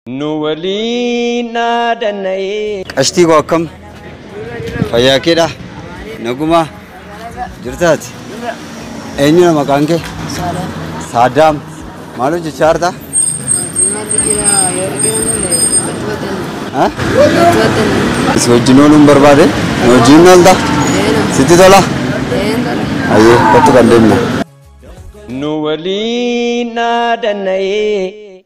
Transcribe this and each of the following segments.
Nu waliin dhaadanna'ee. Qashtii koo akkam fayyaa keedha nagumaa jirtaati eenyudha maqaan kee saadaam maal hojjechaa jirta Ha? si wajjin ooluun barbaade na wajjin hin oolta sitti tola ayyee kottu kan deemna Nu waliin dhaadanna'ee.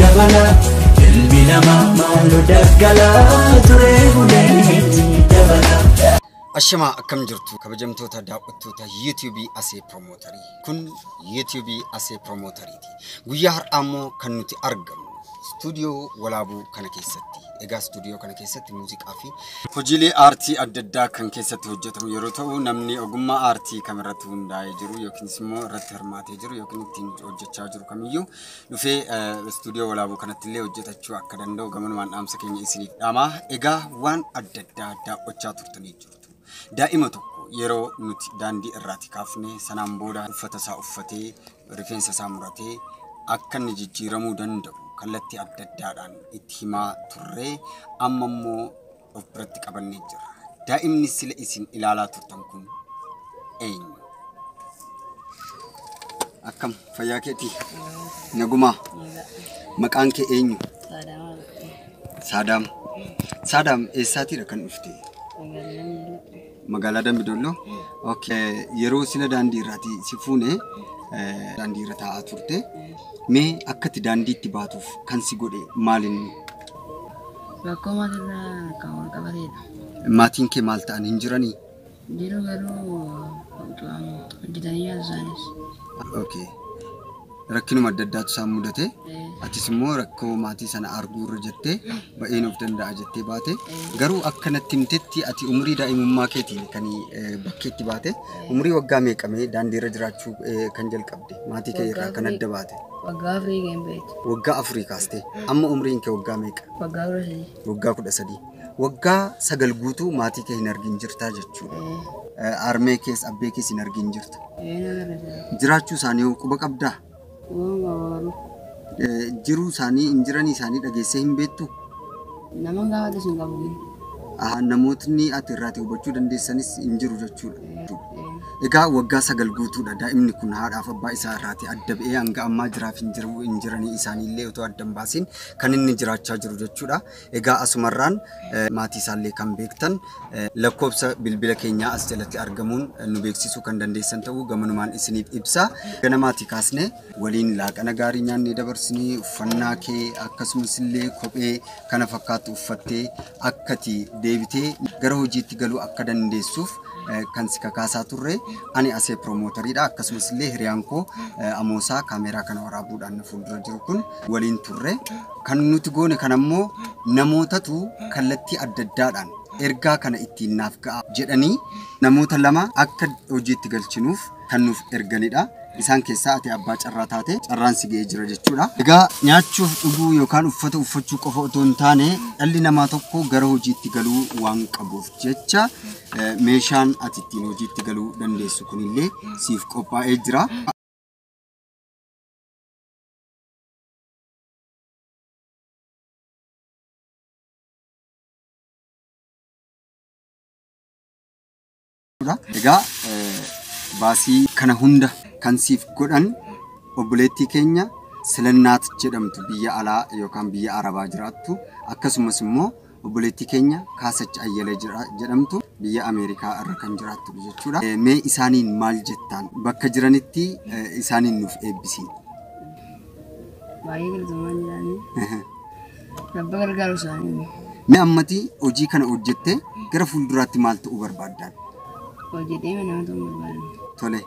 dabala ilmi namaa maaloo daggala turee buleetti dabala. Ashamaa akkam jirtu kabajamtoota daawwattoota YouTube Asee Piromootarii. Kun YouTube Asee Piromooteriiti. Guyyaa har'aa immoo kan nuti argamu istuudiyoo walaabuu kana keessatti. Egaa istuudiyoo kana keessatti muuziqaa fi hojiilee aartii adda addaa kan keessatti hojjetamu yeroo ta'u namni ogummaa aartii kam irratti hundaa'ee jiru yookiinis immoo irratti hirmaatee jiru yookiin ittiin hojjechaa jiru kamiyyuu dhufee istuudiyoo walaabuu kanatti illee hojjetachuu akka danda'u gamanumaan dhaamsa keenya isiniif dhaamaa. Egaa waan adda addaa daawwachaa turtanii jirtu. Daa'ima tokko yeroo nuti daandii irraati kaafne sanaan booda uffata isaa uffatee rifeensa isaa muratee akka inni jijjiiramuu danda'u kallattii adda addaadhaan itti himaa turre amma immoo of biratti qabannee jirra. Daa'imni sila isin ilaalaa turtan kun eenyu? Akkam fayyaa keetii? Nagumaa? Maqaan kee eenyu? Saadaam. Saadaam eessaatiidha kan dhufte? Magaalaa Dambi Dolloo. Ok. Yeroo sila daandii irraati si fuune eh, daandii irra taa'aa turte. Mee akkati daandiitti baatuuf kan si godhe maalinni? Rakkoo maatirraa kan wal qabateedha. Maatiin kee maal ta'an hin jiranii? Jiru garuu hojjetanii nyaatu isaanis. Ok. rakkinuma adda addaatu isaan mudate atis immoo rakkoo maatii sana arguu irra jettee ba'een of danda'a jettee baate garuu akka natti himtetti ati umurii daa'imummaa keetiin kan eh, bakkeetti baate umurii waggaa meeqamee daandii irra jiraachuu eh, kan jalqabde maatii kee irraa kan adda baate waggaa afurii ga'een beektu waggaa afurii kaastee amma umriin kee waggaa meeqa waggaa kudha sadii Waggaa 13. Waggaa sagal guutuu maatii kee hin argin jirtaa jechuudha. Ee, Harmee kees abbee kees hin argin jirta. ee na gara jira. Jiraachuu isaanii hoo quba qabdaa? Waan gabaabaa. Eh, Jiruu isaanii hin jiranii isaanii dhageessee hin beektu? Nama gaafatu sun qabu. Aha, Namootni ati irraatii hubachuu dandeessanis hin jiru jechuudha. Ee, ee. Egaa waggaa sagal guutuudha daa'imni kun haadhaaf abbaa isaa irraatii adda ba'ee hanga ammaa jiraaf hin jiru hin jiranii isaanii illee otoo adda hin baasiin kan inni jiraachaa jiru jechuudha. Egaa asumarraan maatii isaallee kan beektan lakkoofsa bilbila keenyaa as jalatti argamuun nu beeksisuu kan dandeessan ta'uu gamanumaan isiniif ibsa. Gana maatii kaasne waliin laaqana gaarii nyaannee dabarsinii uffannaa kee akkasumas illee kophee kana fakkaatu uffattee akkati deebitee gara hojiitti galuu akka dandeessuuf kan si kakaasaa turre ani asee piroomootariidha akkasumas illee hiriyaan koo amoosaa kaameeraa kana waraabuudhaan fuuldura jiru kun waliin turre. Kan nuti goone kana immoo namootatu kallattii adda addaadhaan ergaa kana ittiin naaf ga'a jedhanii namoota lama akka hojiitti galchinuuf kan nuuf erganidha. Isaan keessaa ati abbaa carraa taate carraan si ga'ee jira jechuudha. Egaa nyaachuuf dhuguu yookaan uffata uffachuu qofa otoo hin taane dhalli namaa tokko gara hojiitti galuu waan qabuuf jecha eh, meeshaan ati ittiin hojiitti galuu dandeessu kunillee siif qophaa'ee jira. jechuudha. Egaa eh, baasii kana hunda kan siif godhan obboleettii keenya Silannaat jedhamtu biyya alaa yookaan biyya Arabaa jiraattu akkasumas immoo Obboleettii keenya Kaasach Ayyala jira- jedhamtu biyya Ameerikaa irra kan jiraattudha jechuudha. Eh, Mee isaaniin maal jettaan? Bakka jiranitti eh, isaaniin nuuf eebbisii. baay'ee galatamaan jiraanii rabba gargaaru isaanii Mee ammati hojii kana hojjettee gara fuulduraatti maal ta'uu barbaaddaan? hojjetee nama ta'uu barbaadu. Tole,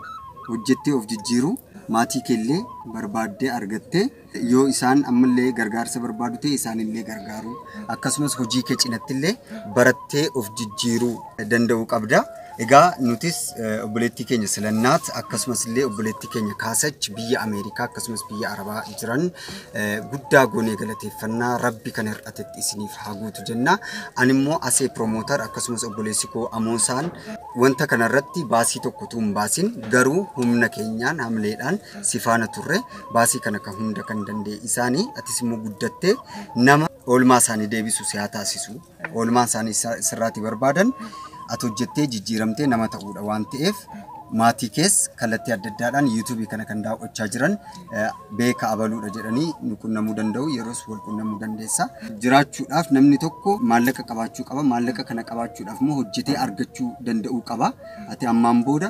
hojjettee of jijjiiruu maatii keellee barbaaddee argattee Yoo isaan ammallee gargaarsa barbaadu ta'e isaanillee gargaaruu akkasumas hojii kee cinattillee barattee of jijjiiruu danda'uu qabda. Egaa nutis eh, obboleettii keenya Silannaat akkasumas illee obboleettii keenya Kaasach biyya Ameerikaa akkasumas biyya Arabaa jiran eh, guddaa goonee galateeffannaa rabbi kan hir'atetti isiniif haa guutu jenna. Ani immoo asee promoter akkasumas obboleessi koo Amoosaan wanta kanarratti baasii tokko utuu hin baasin garuu humna keenyaan hamleedhaan si faana turre. baasii kana kan hunda kan danda'e isaanii atis immoo guddattee nama oolmaa isaanii deebisu si haa taasisu oolmaan isaanii isa- sirraati barbaadan ati hojjettee jijjiiramtee nama ta'uudha waan ta'eef maatii kees kallattii adda addaadhaan yuutuubii kana kan daawwachaa jiran eh, beeka abaluudha jedhanii nu qunnamuu danda'u yeroos wal qunnamuu dandeessa jiraachuudhaaf namni tokko maallaqa qabaachuu qaba maallaqa kana qabaachuudhaaf immoo hojjetee argachuu danda'uu qaba ati ammaan booda